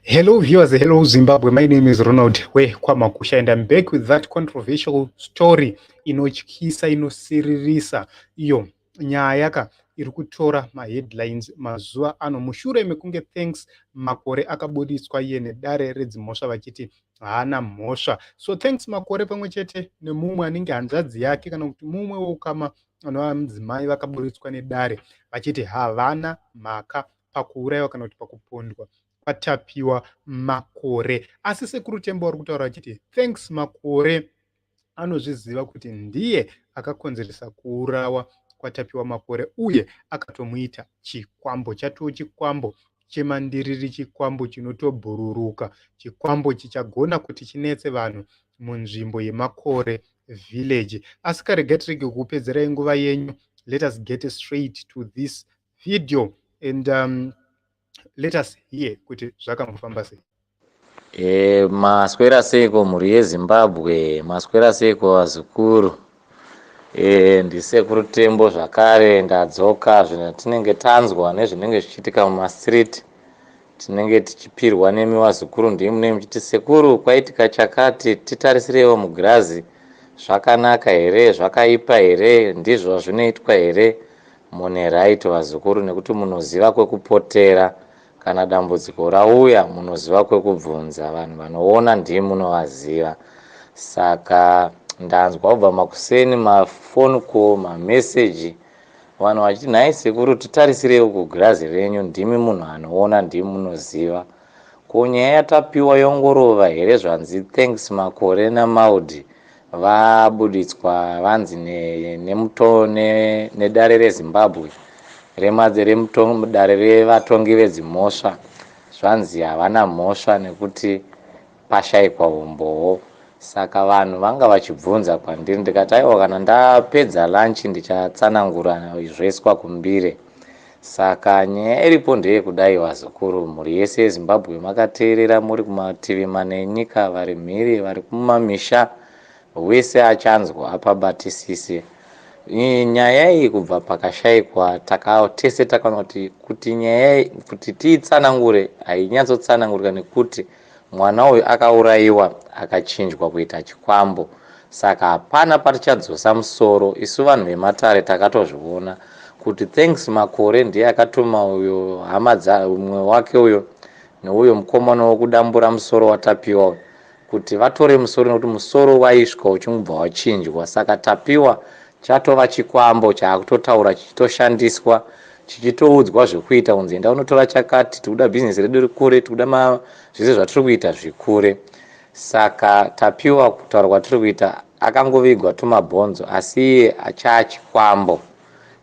Hello viewers, hello Zimbabwe. My name is Ronald Hwe Kwamakusha and I'm back with that controversial story inotyisa inosiririsa iyo nyaya ka iri kutora maheadlines mazuva ano mushure mekunge thanks makore akabuditswa iye nedare redzimhosva vachiti haana mhosva so thanks makore pamwe chete nemumwe anenge hanzvadzi yake kana kuti mumwe weukama anova mudzimai vakaburitswa nedare vachiti havana mhaka pakuuraiwa kana kuti pakupondwa kwatapiwa makore asi sekuru tembo vari kutaura vachiti thanks makore anozviziva kuti ndiye akakonzeresa kuurawa kwatapiwa makore uye akatomuita chikwambo chatoo chikwambo chemandiriri chikwambo chinotobhururuka chikwambo chichagona kuti chinetse vanhu munzvimbo yemakore village asi karegatirege kukupedzerai nguva yenyu let us get straight to this video and um, let us hear kuti zvakambofamba sei e, maswera seiko mhuri yezimbabwe maswera seiko vazukuru e, ndisekuru tembo zvakare ndadzoka zvino tinenge tanzwa nezvinenge zvichiitika mumastreet tinenge tichipirwa nemi vazukuru ndii munenge muchiti sekuru kwaitika chakati titarisireiwo mugirazi zvakanaka here zvakaipa here ndizvo zvinoitwa here Mune right vazukuru nekuti munoziva kwekupotera kana dambudziko rauya munoziva kwekubvunza vanhu vanoona ndimi munovaziva saka ndanzwa kubva makuseni mafoni ko mameseji vanhu vachiti nhai sekuru titarisirei uku girazi renyu ndimi munhu anoona ndimi munoziva ko nyaya yatapiwa yongorova here zvanzi thanks makore namaudi Vabuditswa vanzi nedare reZimbabwe remudare revatongi vedzimhosva zvanzi havana mhosva nekuti pashaikwa humbowo saka vanhu vanga vachibvunza kwandiri ndikati aiwa kana ndapedza lunch ndichatsanangura zvoiswa kumbire Saka nyaya iripo ndeyekudai vazukuru mhuri yese yeZimbabwe makateerera muri kumativi mana enyika vari mhiri vari kumamisha wese achanzwa apabatisise nyaya iyi kubva pakashaikwa taka tese takaona kuti kuti nyaya iyi kuti tiitsanangure hainyatsotsanangurika nekuti Mwana uyu akauraiwa akachinjwa kuita chikwambo saka hapana patichadzosa musoro isu vanhu vematare takatozviona kuti thanks makore ndiye akatuma uyo hama dza umwe wake uyo neuyo mukomana wokudambura musoro watapiwa uyo kuti vatore musoro nekuti musoro waisvika uchingubva wachinjwa saka tapiwa Chatova chikwambo chaakutotaura chichitoshandiswa chichitoudzwa zvekuita kunzi enda unotora chakati tikuda business redu rikure tikuda ma zvese zvatiri kuita zvikure saka tapiwa kutaura kwatiri kuita akangovigwa tumabhonzo asi iye achaa chikwambo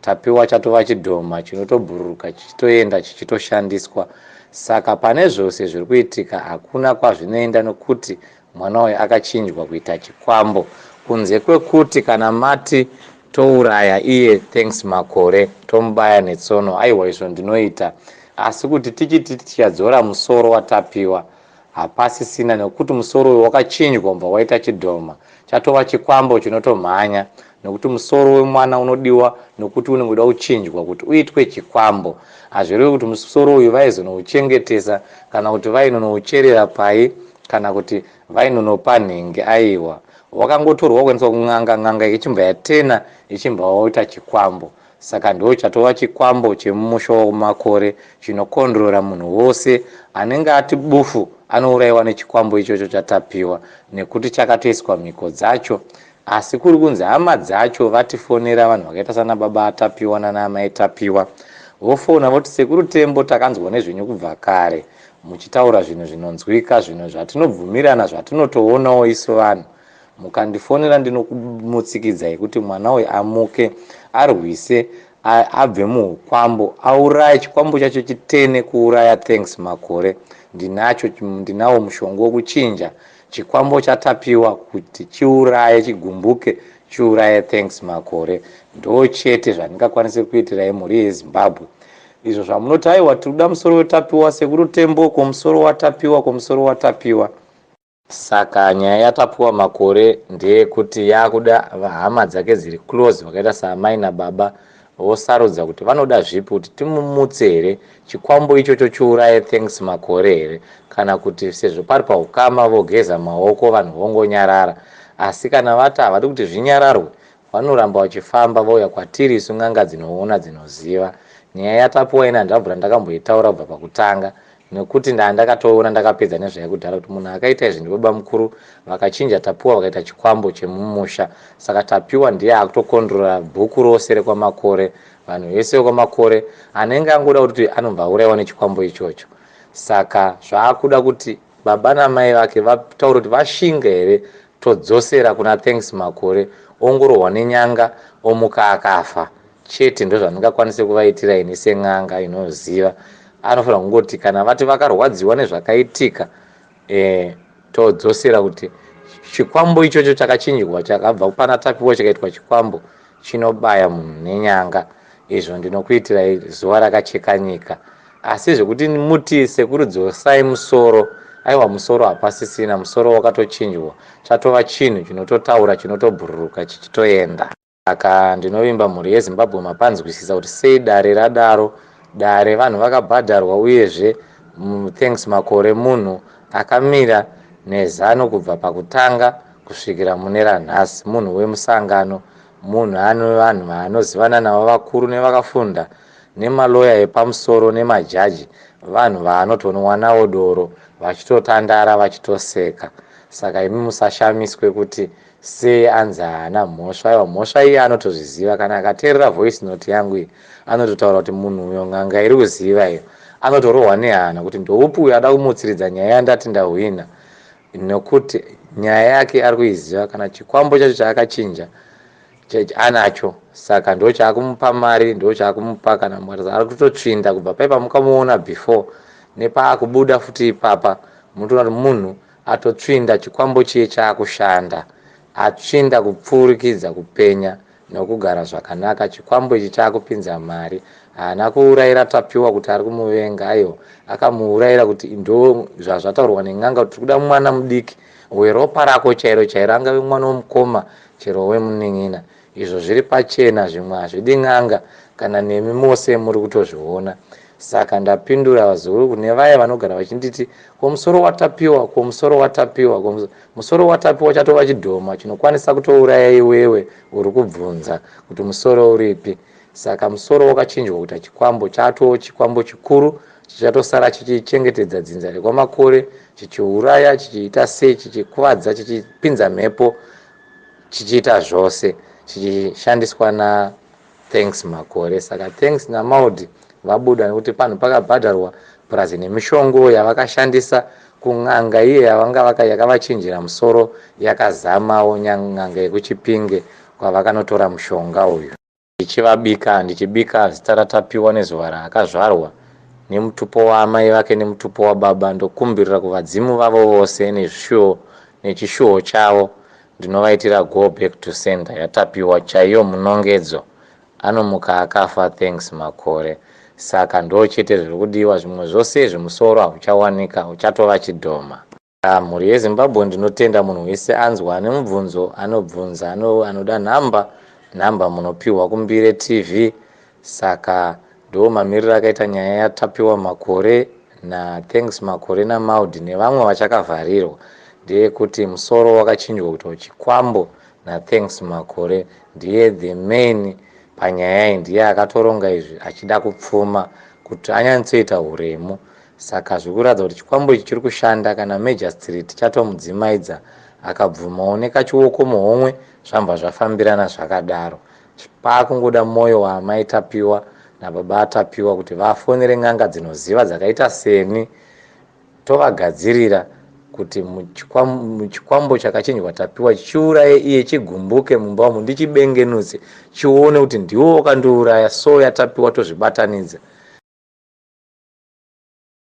tapiwa chatova chidhoma chinotobhururuka chichitoenda chichitoshandiswa saka pane zvose zviri kuitika hakuna kwazvinoenda nokuti Mwana uyu akachinjwa kuita chikwambo kunze kwekuti kana mati touraya iye thanks makore tomubaya netsono aiwa izvo ndinoita asi kuti tichiti tichadzora musoro watapiwa hapasisina nekuti musoro uyu wakachinjwa umbva waita chidhoma chatova chikwambo chinotomhanya nokuti musoro wemwana unodiwa nokuti unenge uda kuchinjwa kuti uitwe chikwambo hazvireve kuti musoro uyu vaizonouchengetesa kana kuti vainonoucherera pai kana kuti vainonopa nhingi aiwa wakangotorwa kuendeswa kun'anga n'anga ichimbwa yatena ichimbwa waoita chikwambo saka ndo chatova chikwambo chemumusha wakumakore chinokondrora munhu wose anenge ati bufu anouraiwa nechikwambo ichocho chatapiwa nekuti chakatoiswa mhiko dzacho Asi kuri kunzi hama dzacho vatifonera vanhu vakaita sana baba Tapiwa nana amai Tapiwa vofona voti sekuru Tembo takanzwa nezvenyu kubva kare muchitaura zvinhu zvinonzwika zvimwe zvatinobvumirana zvatinotoonawo isu vanhu mukandifonera ndinokumutsikidza yekuti mwana uyu amuke arwise abve muukwambo auraye chikwambo chacho chitene kuuraya thanks makore ndinacho ndinawo mushonga wekuchinja Chikwambo chatapiwa kuti chiuraye chigumbuke chiuraye thanks makore ndochete zvandingakwanise kuitirai mhuri yezimbabwe izvo zvamunoti aiwa tikuda musoro wetapiwa sekuru tembo ko musoro watapiwa ko musoro watapiwa saka nyaya yatapiwa makore ndeyekuti yakuda hama dzake dziri close vakaita saamai nababa vosarudza kuti vanoda zvipi kuti timumutse here chikwambo ichocho chiuraye Thanks Makore here kana kuti sezvo pari pahukama vogeza maoko vanhu vongonyarara asi kana vati havadi kuti zvinyararwe vanoramba vachifamba vouya kwatiri isu n'anga dzinoona dzinoziva nyaya yaTapiwa ini handina kubvira ndakamboitaura kubva pakutanga nekuti ndaa ndakatoona ndakapedza nezvaya kudhara kuti munhu akaita izvi ndibaba mukuru vakachinja tapiwa vakaita chikwambo chemumusha saka tapiwa ndiye akutokondrora bhuku rose rekwamakore vanhu vese vekwamakore anenge angoda kuti anobva auraiwa nechikwambo ichocho saka zvaakuda kuti baba namai vake vataure kuti vashinga here Todzosera kuna Thanks Makore ongorohwa nenyanga omuka akafa chete ndozvandingakwanise kuvaitira ini sen'anga inoziva anofanira kungoti kana vati vakarwadziwa nezvakaitika eh, todzosera kuti chikwambo ichocho chakachinjwa chakabva pana Tapiwa chikaitwa chikwambo chinobaya munhu nenyanga izvo ndinokuitirai zuva rakacheka nyika asi zvekuti muti sekuru dzosai musoro aiwa musoro hapasisina musoro wakatochinjwa chatova chinhu chinototaura chinotobhururuka chichitoenda saka ndinovimba mhuri yezimbabwe mapanzwisisa kuti sei dare radaro dare vanhu vakabhadharwa uyezve thanks makore munhu akamira nezano kubva pakutanga kusvikira mune ranhasi munhu wemusangano munhu ane vanhu vaanozivana navo vakuru nevakafunda nemaloya epamusoro nemajaji vanhu vaanotonwa navo doro vachitotandara vachitoseka saka imi musashamiswe kuti sei anzi haana mhosva aiwa mhosva iye anotozviziva kana akateerera voice note yangu iyi anototaura kuti munhu uyo nganga iri kuziva iyo anotorohwa nehana kuti ndoupi uyo ada kumutsiridza nyaya yandati ndahwina nokuti nyaya yake ari kuiziva kana chikwambo chacho chaakachinja anacho saka ndo chaakumupa mari ndo chaakumupa kana mukarasa ari kutotsvinda kubva paipa mukamuona before nepaakubuda futi ipapa munotoona kuti munhu atotsvinda chikwambo chiye chaakushanda atsvinda kupfurikidza kupenya nokugara zvakanaka chikwambo ichi chakupinza mari haana kuuraira tapiwa kuti ari kumuvenga aiwa akamuuraira kuti ndo zvazvataurwa nen'anga kuti tikuda mwana mudiki weropa rako chairo chairo angave mwana womukoma chero wemunin'ina izvo zviri pachena zvimwe hazvidi n'anga kana nemi mose muri kutozviona saka ndapindura vazukuru kune vaye vanogara vachinditi komusoro watapiwa komusoro watapiwa komusoro Musoro waTapiwa chatova chidhoma chinokwanisa kutouraya iwewe uri kubvunza kuti musoro uripi. Saka musoro wakachinjwa kuita chikwambo chatoo chikwambo chikuru chichatosara chichichengetedza dzinza rekwaMakore chichiuraya chichiita sei chichikuvadza chichipinza mhepo chichiita zvose chichishandiswa na Thanks Makore. Saka thanks naMaudhi vabuda nekuti panhu pakabhadharwa purazi nemishongo yavakashandisa kun'anga iye yavanga vaka yakavachinjira musoro yakazamawo n'anga yekuchipinge kwavakanotora mushonga uyu ndichivabika ndichibika zita raTapiwa nezuva raakazvarwa nemutupo waamai vake nemutupo wababa ndokumbirira kuvadzimu vavo vose nezvishuwo nechishuwo chavo Ndinovaitira go back to sender yaTapiwa chaiyo munongedzo anomuka akafa thanks Makore saka ndochete zvirikudiwa zvimwe zvose izvi musoro hauchawanika uchatova chidhoma. Yaa mhuri yeZimbabwe ndinotenda munhu wese anzwa ane mubvunzo anobvunza anoda number number munopihwa kumbire TV Saka ndoomamiriro akaita nyaya yaTapiwa Makore naThanks Makore naMaud nevamwe vachakavharirwa ndeyekuti musoro wakachinjwa kuitwa chikwambo naThanks Makore ndiye the main panyaya iyi ndiye akatoronga izvi achida kupfuma kuti anyatsoita huremu saka zviri kuratidza kuti chikwambo ichi chiri kushanda kana Majastrit chatomudzimaidza akabvumawo nekachioko muhomwe zvambwa zvafambirana zvakadaro Pakungoda moyo waamai Tapiwa nababa aTapiwa kuti vafonere n'anga dzinoziva dzakaita seni tovagadzirira kuti chikwambo chakachinjwa Tapiwa chiuraye iye chigumbuke mumba umu ndichibengenutse chione kuti ndiwo wakandiuraya so yaTapiwa tozvibatanidza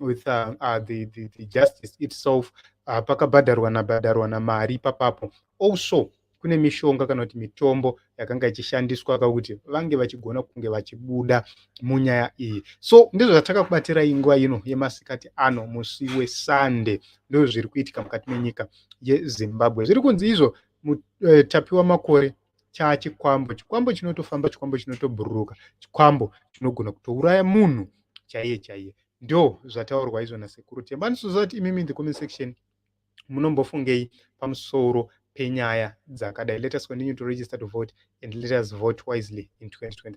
with uh, uh, the, the, the justice itself uh, pakabhadharwa nabhadharwa namari ipapapo also kune mishonga kana kuti mitombo yakanga ichishandiswa kakuti vange vachigona kunge vachibuda munyaya iyi so ndizvo zvatakakubatira inguva ino yemasikati ano musi wesande ndizvo zviri kuitika mukati menyika yezimbabwe zviri kunzi izvo mutapiwa eh, makore chachikwambo chikwambo chinotofamba chikwambo chinotobhururuka chikwambo chinogona kutouraya munhu chaiye chaiye ndo zvataurwa izvo nasekuru temba andisoziva kuti imimi in the comment section munombofungei pamusoro penyaya dzakadai let us continue to register to vote and let us vote wisely in 2023